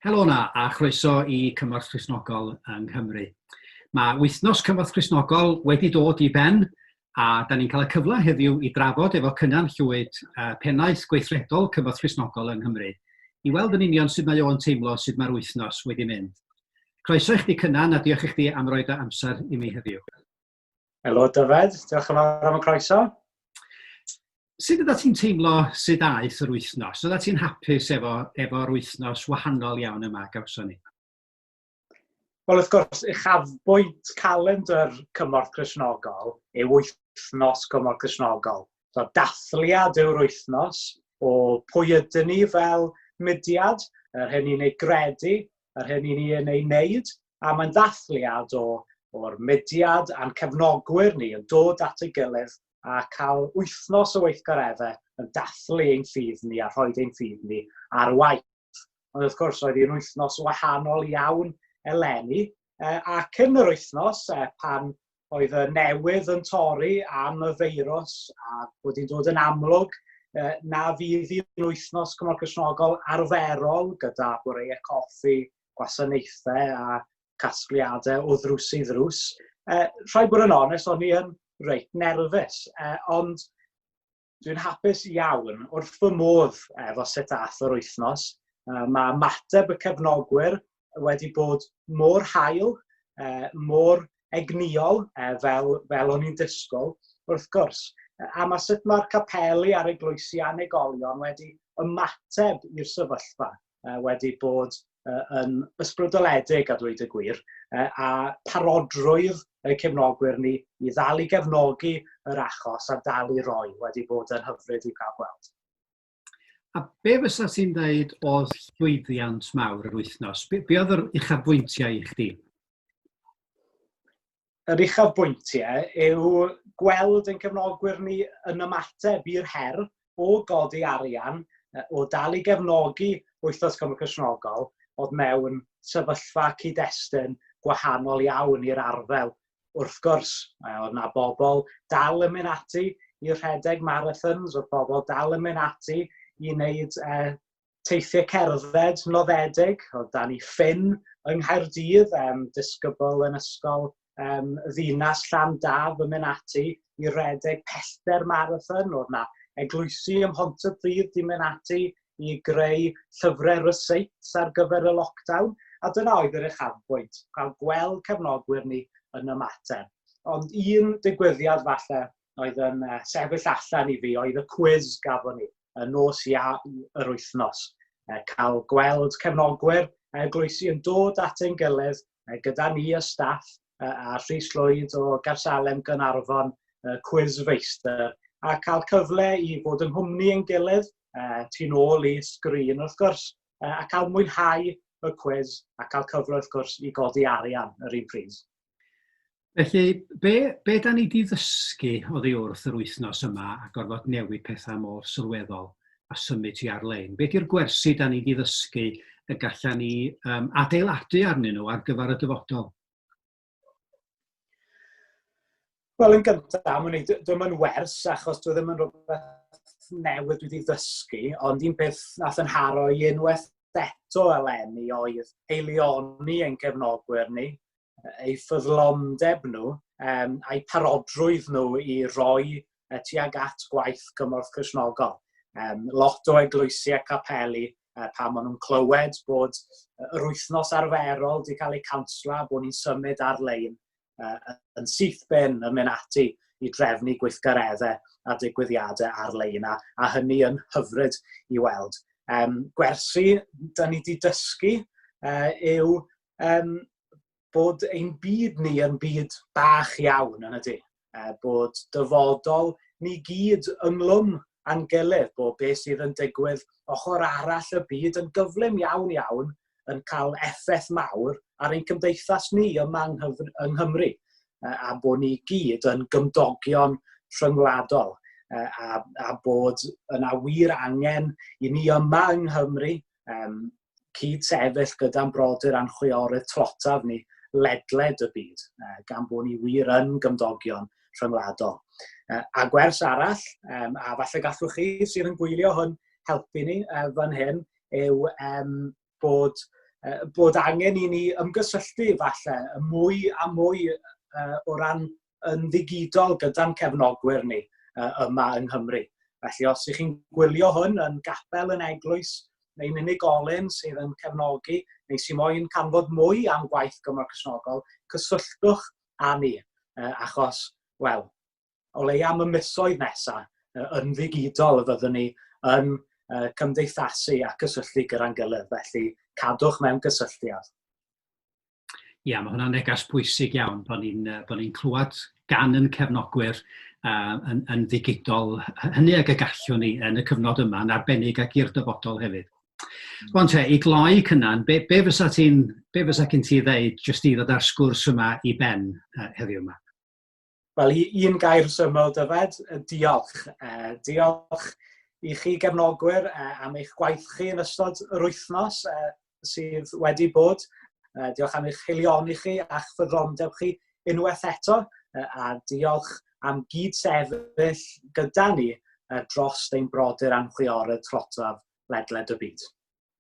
Helo na, a chroeso i Cymorth Christnogol yng Nghymru. Mae wythnos Cymorth Christnogol wedi dod i ben a da ni'n cael y cyfle heddiw i drafod efo Cynan Llwyd uh, pennaeth gweithredol Cymorth Christnogol yng Nghymru i weld yn union sut mae o'n teimlo sut mae'r wythnos wedi mynd. Croeso i chdi Cynan a diolch i chdi am roed dy amser i mi heddiw. Helo Dyfed, diolch yn fawr am y croeso. Sut ydych ti'n teimlo sydd aeth yr wythnos? Ydych ti'n hapus efo, efo'r wythnos wahanol iawn yma gawson ni? Wel, wrth gwrs, uchafbwynt calendr Cymorth Cresnogol yw wythnos Cymorth Cresnogol. So, dathliad yw'r wythnos o pwy ydyn ni fel mudiad, yr hyn ni'n ei gredu, yr hyn i ni yn ei wneud, a mae'n ddathliad o o'r mudiad a'n cefnogwyr ni yn dod at ei gilydd a cael wythnos o weithgareddau yn dathlu ein ffydd ni a rhoi ein ffydd ni ar waith. Ond wrth gwrs, oedd hi'n wythnos wahanol iawn eleni, ac yn yr wythnos pan oedd y newydd yn torri am y feirws a bod hi'n dod yn amlwg na fydd hi'n wythnos cymryd cysnogol arferol gyda bwreiau coffi, gwasanaethau a casgliadau o ddrws i ddrws. Uh, rhaid bod yn onest, o'n i yn reit nerfus, uh, ond Dwi'n hapus iawn, wrth fy modd efo sut ath yr wythnos. Mae mateb y cefnogwyr wedi bod mor hael, mor egnïol fel, fel o'n i'n disgwyl, wrth gwrs. A mae sut mae'r capeli a'r eglwysi anegolion wedi ymateb i'r sefyllfa. wedi bod yn ysbrydoledig a dweud y gwir, a parodrwydd y cefnogwyr ni i ddal i gefnogi yr achos a dal i roi wedi bod yn hyfryd i cael gweld. A be fysa ti'n dweud oedd llwyddiant mawr yr wythnos? Be, be oedd yr uchafbwyntiau i chdi? yr uchafbwyntiau yw gweld ein cefnogwyr ni yn ymateb i'r her o godi arian, o dal i gefnogi Wythnos Cymru Cristnogol, oedd mewn sefyllfa cyd-destun gwahanol iawn i'r arddel. Wrth gwrs, oedd yna bobl dal yn mynd ati i rhedeg marathons, oedd pobl dal yn mynd ati i wneud eh, teithiau cerdded noddedig, o dan i ffin yng Nghaerdydd, um, disgybl yn ysgol um, ddinas llan daf yn mynd ati i redeg pellter marathon, oedd na eglwysi ym Mhont y Pryd di mynd ati i greu llyfrau ryseits ar gyfer y lockdown, a dyna oedd yr uchafbwynt, cael gweld cefnogwyr ni yn ymateb. Ond un digwyddiad falle oedd yn uh, sefyll allan i fi oedd y cwiz gafon ni y nos ia yr wythnos. Uh, cael gweld cefnogwyr uh, gloesi yn dod at ein gilydd uh, gyda ni y staff uh, a Rhys Lloyd o Garsalem Gynarfon uh, Quiz Feistr a cael cyfle i fod yn hwmni yn gilydd uh, tu'n ôl i sgrin wrth gwrs, uh, a cael mwynhau y cwez a cael cyfle wrth gwrs i godi arian yr un pryd. Felly, be, be da ni di ddysgu oddi wrth yr wythnos yma a gorfod newid pethau mor sylweddol a symud ti ar-lein? Be di'r gwersi da ni di ddysgu y gallan ni um, adeiladu arnyn nhw ar gyfer y dyfodol? Wel, yn gyntaf, dwi'n ddim yn wers, achos dwi ddim yn rhywbeth newydd dwi wedi ddysgu, ond un peth nath yn haro i unwaith eto eleni oedd eilioni ein cefnogwyr ni, eu ffyddlondeb nhw um, a'u parodrwydd nhw i roi uh, tuag at gwaith cymorth chrysnogol. Um, lot o eglwysi a capeli uh, pan maen nhw'n clywed bod yr wythnos arferol wedi cael ei cansla, bod ni'n symud ar-lein uh, yn syth ben yn mynd ati i drefnu gweithgareddau a digwyddiadau ar-lein, a, a hynny yn hyfryd i weld. Um, gwersi, da ni wedi dysgu uh, yw um, bod ein byd ni yn byd bach iawn yn ydy, uh, bod dyfodol ni gyd ynglwm a'n gilydd, bod beth sydd yn digwydd ochr arall y byd yn gyflym iawn iawn yn cael effaith mawr ar ein cymdeithas ni yma yng Nghymru, uh, a bod ni gyd yn gymdogion rhyngwladol, uh, a, a bod yna wir angen i ni yma yng Nghymru um, cyd-sefyll gyda'n brodyr a'n chwiorydd tlotaf ni ledled y byd, gan bod ni wir yn gymdogion rhyngwladol. A gwers arall, a falle gallwch chi sydd yn gwylio hwn helpu ni fan hyn, yw bod, bod angen i ni ymgysylltu falle mwy a mwy o ran yn ddigidol gyda'n cefnogwyr ni uh, yma yng Nghymru. Felly os ych chi'n gwylio hwn yn gapel yn eglwys neu'n unigolyn sydd yn cefnogi neu sy'n moyn canfod mwy am gwaith Gymro Cresnogol, cysylltwch â ni, uh, achos, wel, o leia am y misoedd nesaf, uh, yn ddigidol y fyddwn ni yn uh, cymdeithasu a cysylltu gyda'n gilydd, felly cadwch mewn cysylltiad. Ia, mae hwnna'n neges pwysig iawn bod ni'n uh, bod ni'n clywed gan yn cefnogwyr uh, yn, yn ddigidol hynny ag y gallwn ni yn y cyfnod yma yn arbennig ac i'r dyfodol hefyd. Hmm. Rwan te, i gloi cynnan, be, be fysa ti'n be fysa cyn ti ddeud jyst i ddod ar sgwrs yma i ben uh, heddiw yma? Wel, un gair syml, Dyfed, diolch. Diolch i chi gefnogwyr am eich gwaith chi yn ystod yr wythnos sydd wedi bod. Diolch am eich hilioni chi a'ch ffyddrondeb chi unwaith eto, a diolch am gyd-sefyll gyda ni dros ein brodyr anhwiorydd trotaf ledled y byd.